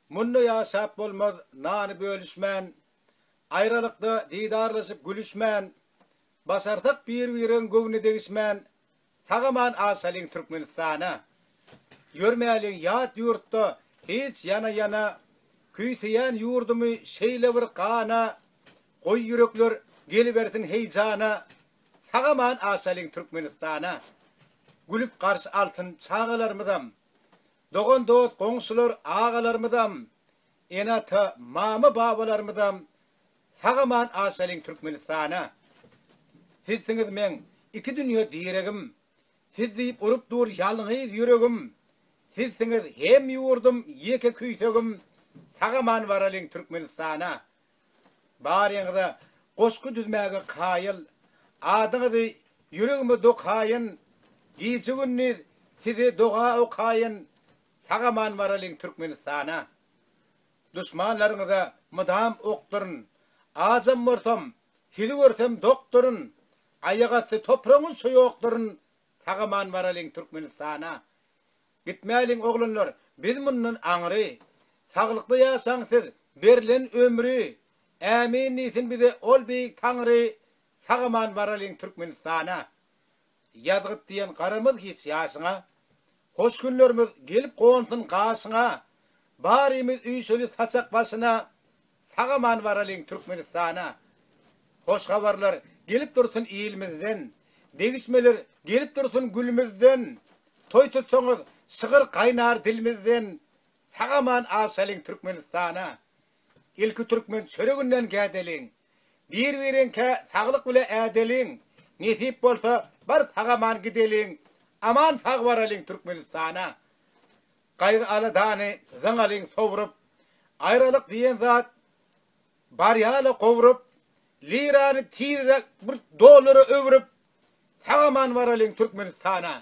Munda ýaşap bolmaz nany bölüşmän, Aýralykda didarlaşyp gülüşmän, Başarsak bir-bireň göwnüne degişmän, Sag-aman aşalyň Türkmenistana. Ýörmäliň ýat ýurtda hiç ýana-ýana, Küýseýän ýurdumy şeýle bir gana, Goý ýürekler gelibersin heýjana, Sag-aman aşalyň Türkmenistana. Gülüp garşy alsyn çagalarymyzam, Dogan-dost, goňşular, agalarymyzam, ene-ata, mama-babalarymyzam sag-aman aşalyň Türkmenistana. Sizsiňiz meň iki dünýe diregim, Siz diýip urup dur ýalňyz ýüregim, Sizsiňiz hem ýurdum, ýeke küýsegim, Sag-aman baralyň Türkmenistana. Baryňyza goşgy düzmäge kaýyl. Adyňyzy ýüregime dokaýyn, Gije-gündiz size doga okaýyn, Sag-aman baralyň Türkmenistana. Duşmanlaryňyza mydam ok durun, Ajam bolsam, sizi görsem dok durun, Aýagasty topragyňyzça ýok durun, Sag-aman baralyň Türkmenistana. Gitmäliň oglanlar biz mundan aňry. Saglykda ýaşaň siz berlen ömri Ämin diýsin bize ol beýik Taňry Sagaman baralyň Türkmenistana Ýazgyt diýen garamaz hiç ýaşyňa Hoş günlerimiz gelip gonsyn gaşyňa Barymyz üýşeli saçak başyna Sag aman baralyň Türkmenistana. Hoş habarlar gelip dursun ilimizden, degişmeler gelip dursun gülümizden, toý tutsaňyz şygyr gaýnar dilimizden, sag aman aşalyň Türkmenistana. Ilki türkmen çöreginden gädeliň, bir bireňkä saglyk bile ädeliň, nesip bolsa bar sag aman gideliň, aman sag baralyň Türkmenistana. Gaýgy-aladany zyňalyň sowrup, Aýralyk diýen zat bar ýaly gowrup, Lirany tizräk bir dollara öwrüp, Sag-aman baralyň Türkmenistana.